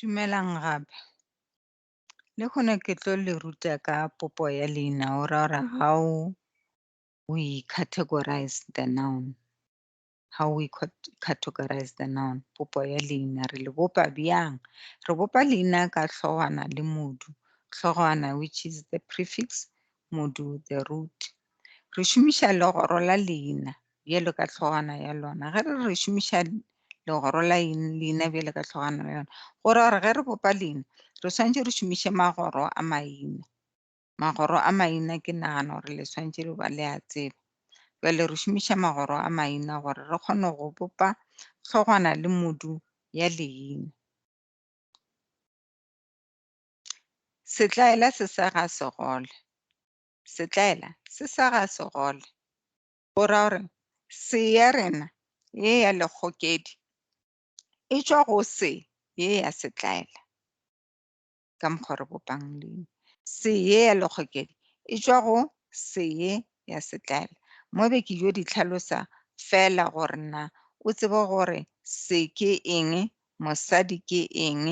Dumelang gape. Le hona ke tlo le ruta ka popo ya leina, o ra gore ha o we categorize the noun how we categorize the noun popo ya leina re le bopa bjang re bopa leina ka hlogwana le modu hlogwana which is the prefix modu the root re šomiša legoro la leina bjalo ka hlogwana ya lona ge re re šomiša legoro la leina bjalo ka hlogwana ya lona gore gore ge re bopa leina re swanetše re šomiše magoro a maina Magoro a maina ke nagana gore le swantše le ba le a tseba. Jale re šomiša magoro a maina gore re kgone go bopa hlogwana le modu ya leina. Setlaela se sega segole. Setlaela se sega segole. Go ra gore se ya rena ye ya lekgokedi e tšwa go se ye ya setlaela. ka mokgwa re bopang leina. Seye ya lekgokedi e tšwa go seye ya setlaela. Mo be ke yo di tlhalosa fela gore na o tsebe gore se ke eng, mosadi ke eng,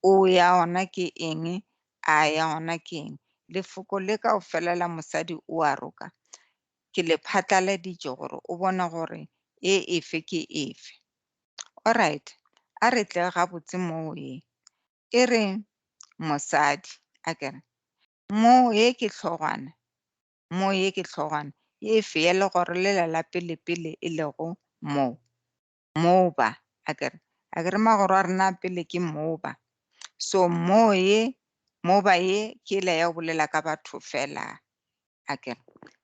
o ya ona ke eng, a ya ona ke eng. Lefoko le ka o fela la mosadi o a roka ke le phatlaladitše gore o bone gore e efe ke efe. Alright, a re tle gabotse mo ye. e re mosadi a kere mo ye ke tlhogwana mo ye ke tlhogwana ye e feye le gore le lela pele pele e lego mo mo ba a kere a kere magoro a rena pele ke mo ba so mo ye mo ba ye ke le ya bolela ka batho fela a ke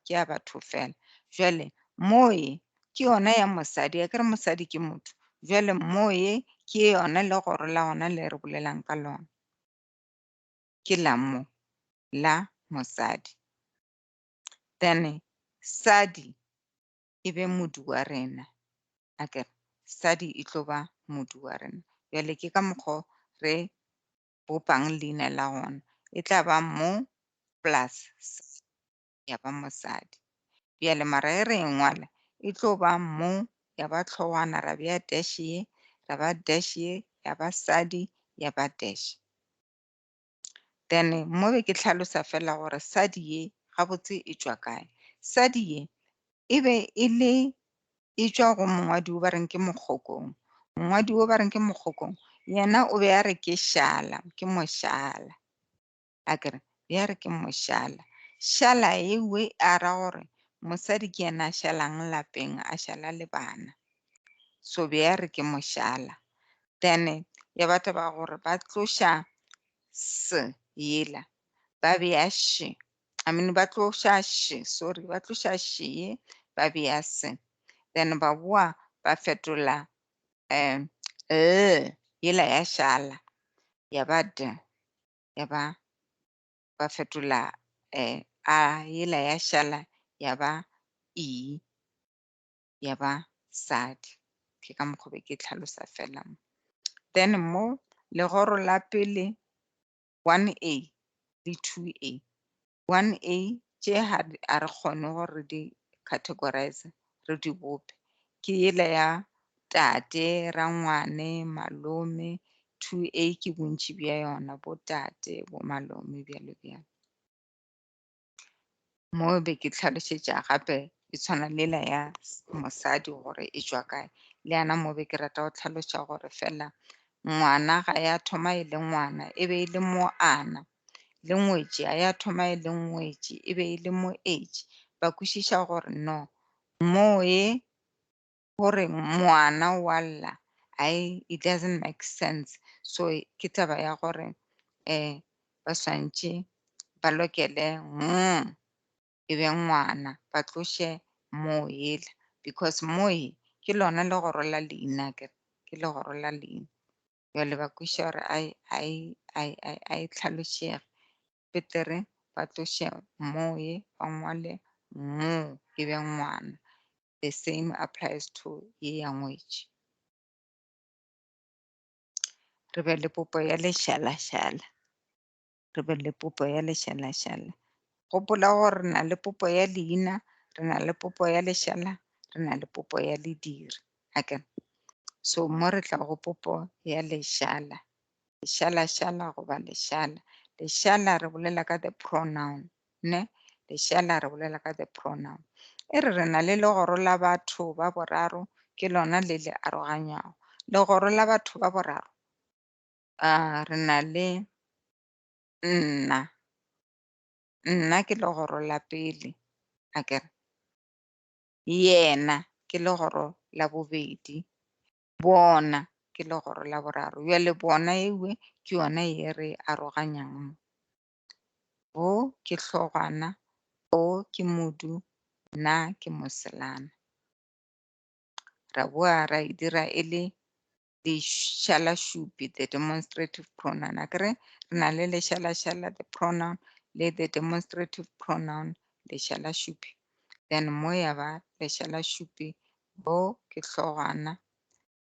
ke ya batho fela jwale moye ke yona ya mosadi a ke re mosadi ke motho jwale moye ke yona le goro la gona le re bolelang ka lona ke la mo la mosadi then sadi e be modu wa rena a ke sadi e tlo ba modu wa rena jwale ke ka mokgwa re bopang leina la gona, e tla ba mo plus sign, ya ba mosadi. Bjale mara e re e ngwala, e tlo ba mo, ya ba tlhogwana, ra bea dash ye, ra ba dash ye, ya ba sadi, ya ba dash. Then mo be ke tlhalosa fela gore sadi ye gabotse e tšwa kae. Sadi ye e be e le e tšwa go mongwadi wo ba reng ke mokgokong mongwadi wo ba reng ke mokgokong yena o be a re ke šala ke mošala a kere ya re ke mošala šala ewe a ra gore mosadi ke yena a šalang lapeng a šala le bana so be ya re ke mošala then ya batho ba gore ba tloša se yela ba be ya she I mean, ba tloša she, sorry, ba tloša she ba bea se. Then ba boa ba fetola um l yela ya shala ya ba d ya ba ba fetola um a yela ya shala ya ba e ya ba sadi. Ke ka mokgwa be ke tlhalosa fela mo. Then mo legoro la pele 1A le 2A. 1A tše ha a re kgone gore re di categorize, re di bope. Ke yela ya tate, rangwane, malome, 2A ke bontši bja yona, bo tate, bo malome, bjalo bjalo. mo be ke tlhalošetša gape e tshwana lela ya mosadi gore e tšwa kae le yana mo be ke rata go tlhaloša gore fela ngwana ga ya thoma e le ngwana e be e le mo ana le ngwetši a ya thoma e le ngwetši e be e le mo age ba kwešiša gore no moe gore ngwana wa lla I, it doesn't make sense so ke taba ya gore um ba swantše ba lokele mm e be ngwana ba tloše moo yela because moye ke lona legoro la leina ke ke legoro la leina jale ba kweša gore ai ai ai ai ai tlhalošege betere ba tloše moye ba ngwale moo e be ngwana The same applies to ye ya ngwetši. Re be le popo ya lešalašala. Re be le popo ya lešalašala. Gopola gore re na le popo ya leina, re na le popo ya lešala, re na le popo ya lediri. Hake. So mo re tla go popo ya lešala. Lešalašala goba lešala. Lešala re bolela ka the pronoun. Ne, lešea la re bolela ka the pronoun. E re re na le legoro la batho ba boraro, ke lona le le aroganywago. Legoro la batho ba boraro, uh, re na le nna. Nna ke legoro la pele, a ke re. Yena ke legoro la bobedi. Bona ke legoro la boraro. Bjale bona ewe ke yona ye re aroganyang. Bo ke hlogwana, bo ke modu, na ke moselana. Ra boa ra e dira e le lešalašupi, the demonstrative pronoun. A ke re re na le lešalašala, the pronoun, le the demonstrative pronoun, lešalašupi. Then mo ya ba lešalašupi, bo ke hlogwana,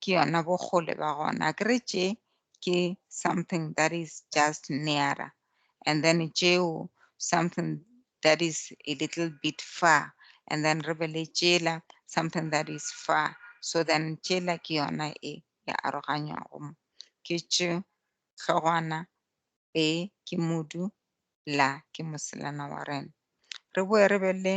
ke yona bokgole ba gona akere tše ke something that is just nearer and then tšeo something that is a little bit far and then re be le tšela something that is far so then tšela ke yona e ya aroganywago mo ke tše hlogwana e ke modu la ke moselana wa rena re boe re be le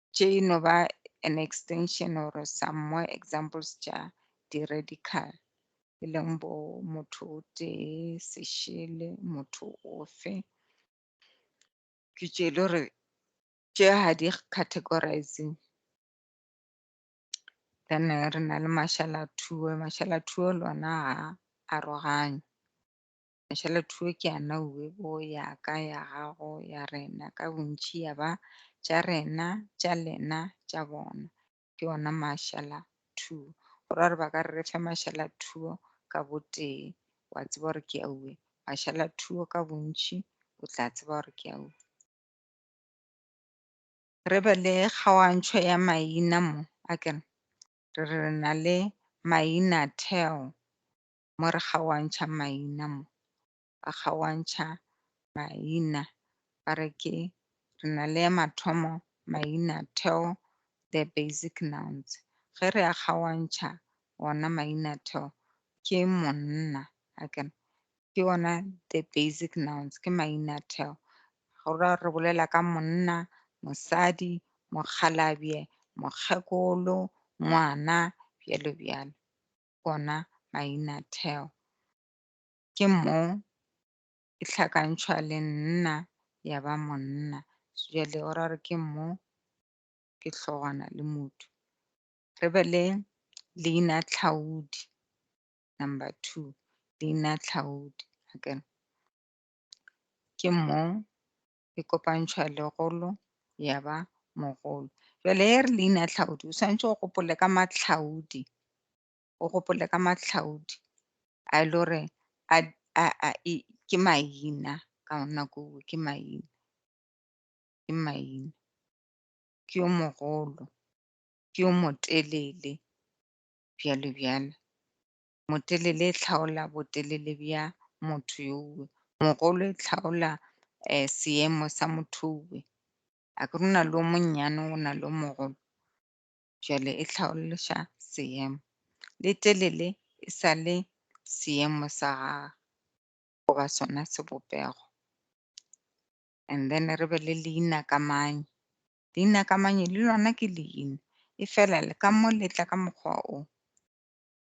tše e no ba an extension or some more examples tša di-radical e leng bo motho o tee sešele motho ofe ke tše e le gore tše ga di categorizing then re na le mashalathuo mashalathuo lona ga aroganywe Mashala thuo ke a nauwe bo ya ka ya gago ya rena ka bontši ya ba tša rena tša lena tša bona ke ona mashala thuo go ra gore ba ka re re fe mashala thuo ka botee wa tseba gore ke auwe mashala thuo ka bontši o tla tseba gore ke auwe re be le kgaoantšho ya maina mo a kere re re na le maina theo mo re kgaoantšha maina mo, ba kgaoantšha maina ba re ke re na le mathomo maina theo the basic nouns. Ge re a kgaoantšha ona maina theo ke monna akere ke ona the basic nouns ke maina theo. Go ra re bolela ka monna, mosadi, mokgalabje, mokgekolo, ngwana bjalo bjalo. ona mainatheo. Ke mo e hlakantšhwa le nna ya ba monna. Jale o ra gore ke mo ke hlogwana le motho. Re be le leinatlhaodi, number two, leinatlhaodi. Ke mo e kopantšhwa legolo ya ba mogolo. Jwale he re leina tlhaodi o swanetše o gopole ka matlhaodi, o gopole ka matlhaodi a e le gore a a a ke maina ka nako nngwe ke maina ke maina ke yo mogolo ke yo motelele bjalo bjalo. motelele e hlaola botelele bja motho yowe, mogolo e hlaola seemo sa motho yowe. Akere go na le o monnyane go na le o mogolo, jwale e hlaološa seemo. Le telele e sa le seemo sa gagwe goba sona sebopego. And then re be le leinakamanye. Leinakamanye le lona ke leina, e fela le ka mo le tla ka mokgwa o.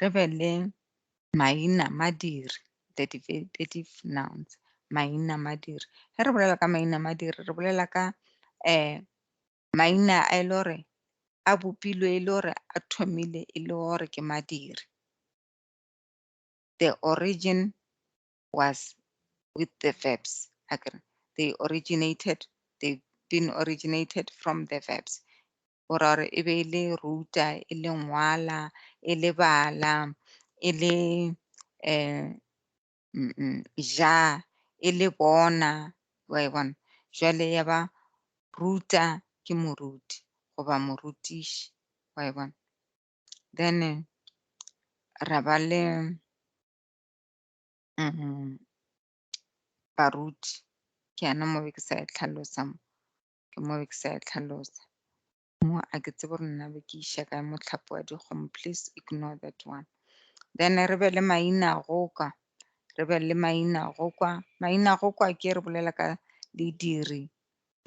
re be le maina madiri the definitive nouns maina madiri ge re bolela ka maina madiri re bolela ka um maina a e le gore a bopilwe e le gore a thomile e le gore ke madiri the origin was with the verbs they originated they've been originated from the verbs go ra gore e be e le ruta e le ngwala e le bala e le um ja e le bona wa e bona jwale ya ba ruta ke moruti goba morutiši wa e bona then ra ba le um baruti ke yana mo be ke sa e tlhalosa mo ke mo be ke sa e tlhalosa mo a ke tsebo gore nna be ke iša kae motlhapo wa dikgomo please ignore that one then re be le maina go kwa re be le maina go kwa maina go kwa ke re bolela ka lediri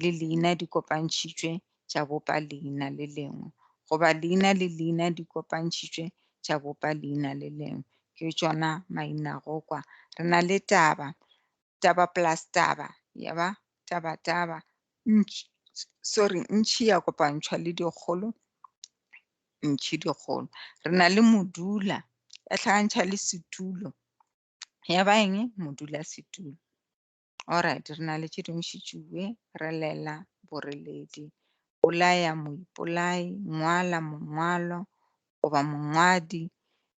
le leina di kopantšhitšwe tša bopa leina le lengwe goba leina le leina di kopantšhitšwe tša bopa leina le lengwe ke tšona maina go kwa re na le taba taba plus taba ya ba taba taba ntši sorry ntši ya kopantšhwa le dikgolo ntši dikgolo re na le modula ya tlhagantšha le setulo ya ba eng modula setulo alright re na le tše dingwe šitšuwe re lela boreledi bolaya moipolai ngwala mongwalo goba mongwadi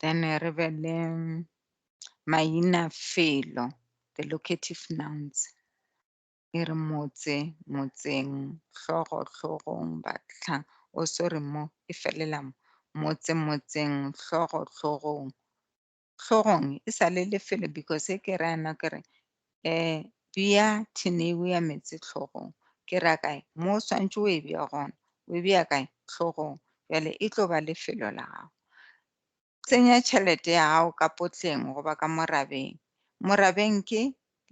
then re be le maina felo the locative nouns e re motse motseng hlogo hlogong batla o oh, sorry mo e felela mo motse motseng hlogo hlogong hlogong e sa le lefelo because e ke re yana ke re E bea thineiu ya meetse hlogong. Ke ra kae? Mo o swantše o e bea gona. O e bea kae? Hlogong. Bjale e tlo ba lefelo la gago. Tsenya tšhelete ya gago ka potleng goba ka morabeng. Morabeng ke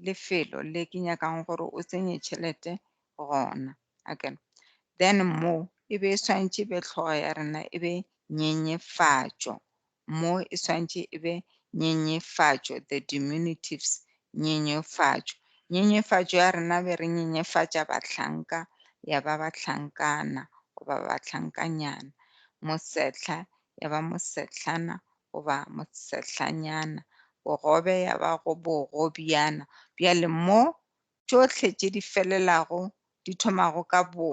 lefelo le ke nyakang gore o tsenye tšhelete gona. Okay. Then mo e be e swantše e be hlogo ya rena e be nyenyefatšo Mo e swantše e be nyenyefatšo, the diminutives, nyenyefatšo. Nyenyefatšo ya rena be re nyenyefatša bahlanka, ya ba bahlankana goba bahlankanyana. Mosehla ya ba mosehlana goba mosehlanyana. Bogobe ya ba go bogobjana. Bjale mo tšohle tše di felelago di thomago ka bo.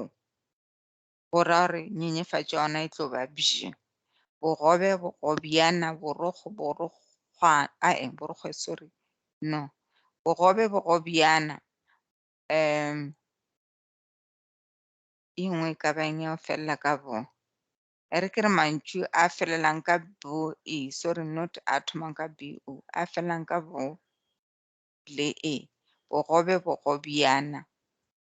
go ra gore nyenyefatšo yona e tlo ba bje bogobe bogobjana borokgo borokgwa ae borokgwe sorry no bogobe bogobjana um e nngwe e ka bang ya felela ka bo e re ke re mantšu a felelang ka bo e sorry not a thomang ka b o a felelang ka bo le e bogobe bogobjana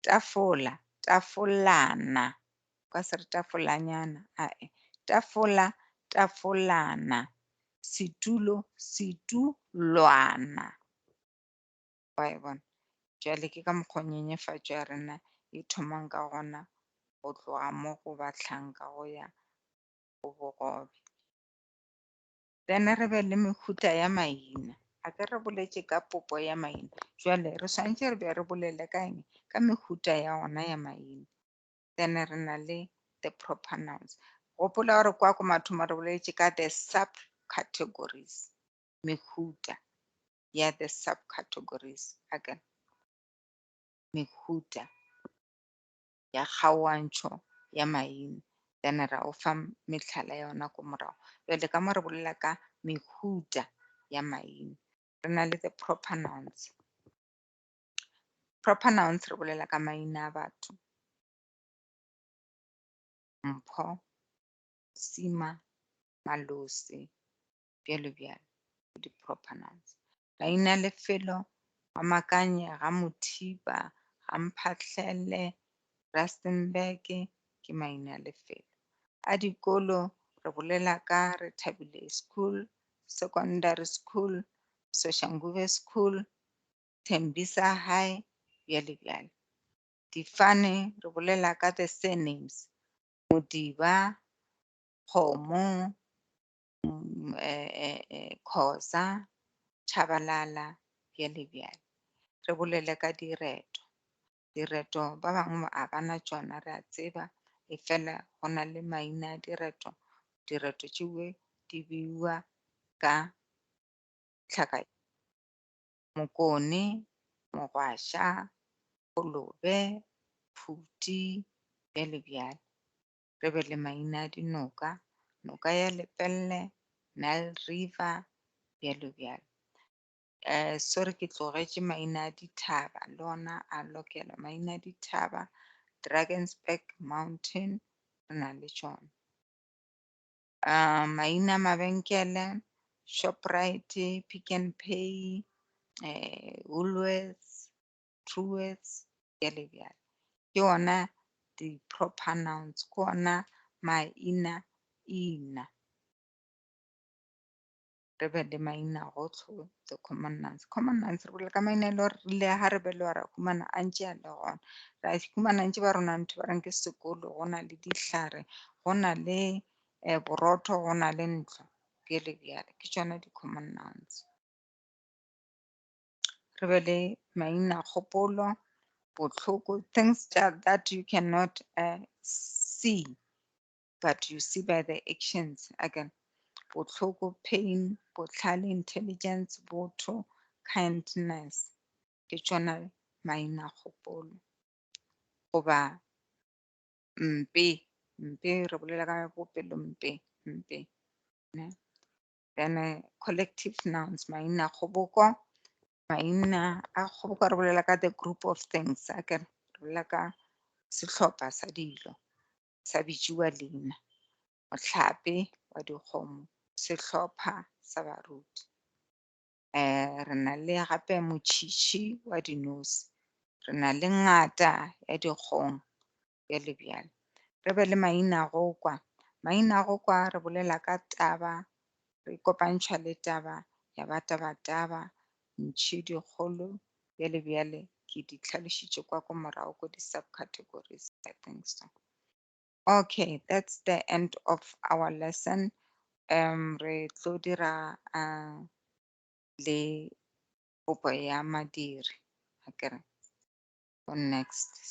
Tafola, tafolana. Kwa se re tafolanyana, ae. Tafola, tafolana. Setulo, setulwana. Wa e bona? Jwale ke ka mokgwa nyenyefatšo ya rena e thomang ka gona go tloga mo go batlhanka go ya go bogobe. Then re be le mehuta ya maina. A ke re boletše ka popo ya maina. Jwale re swantše re be re bolele ka eng? Ka mehuta ya ona ya maina. Then re na le the proper nouns. Gopola gore kwa ko mathomo re boletše ka the subcategories. Mehuta ya the subcategories. Again. Mehuta. ya kgaoantšho ya maina. Then ra o fa mehlala ya ona ko morago. Jwale ka mo re bolela ka mehuta ya maina. Re na le the proper nouns. Proper nouns re bolela ka maina a batho. Mpho, Sima, Malosi, bjalo bjalo, ke di-proper nouns. Mainalefelo, Rwamakanye, Ramothiba, Ramphahlele, Rustenburg ke mainalefelo. A dikolo re bolela ka Rethabile School, Secondary School, Soshanguve School, Tembisa High, bjale bjale. Difane re bolela ka the surnames, Modiba, Kgomo, mm, eh, eh, eh, khoza tšhabalala bjale bjale re bolele ka direto direto ba bangwe a bana tšona re a tseba e fela go na le maina a direto direto tšewe di beiwa ka tlhaka mokone mogwaša kolobe phuti bjale bjale re be le maina a dinoka, noka ya Lepelle, Nile River, bjalo bjalo. Eh, sorry ke tlogetše maina a dithaba le ona a lokela maina a dithaba Drakensberg Mountain re na le tšona uh, maina mabenkele Shoprite Pick n Pay eh, Woolworths true words bjale bjale ke ona di-proper nouns ke ona maina ina re be le maina gotlho the common nouns common nouns re bolela ka maina e le gore rile ga re be le ra humana a ntse a le gona ra humana ntse ba rona ntho ba reng ke sekolo go na le dihlare go na le um borotho go na le ntlo bjale bjale ke tsona di-common nouns re be le maina kgopolo botlhoko things that you cannot uh, see but you see by the actions again botlhoko pain botlhale intelligence botho kindness ke tsona maina kgopolo goba mpe mpe re bolela ka bopelo mpe mpe ne then eh, collective nouns maina a kgoboko maina a kgoboko re bolela ka the group of things a ke re bolela ka sehlopha sa dilo sa bitšiwa leina mohlape wa dikgomo sehlopha sa baruti um re na le gape motšhitšhi wa dinosi re na le ngata ya dikgong bjale bjale. Re be le maina go kwa. Maina go kwa re bolela ka taba, re kopantšha le taba ya ba taba taba, ntšhi dikgolo, bjale bjale ke di tlhalošitše kwa ko morago ko di subcategories I think so. Okay, that's the end of our lesson. Um, re tlo dira uh, le popo ya madiri, akere, for next.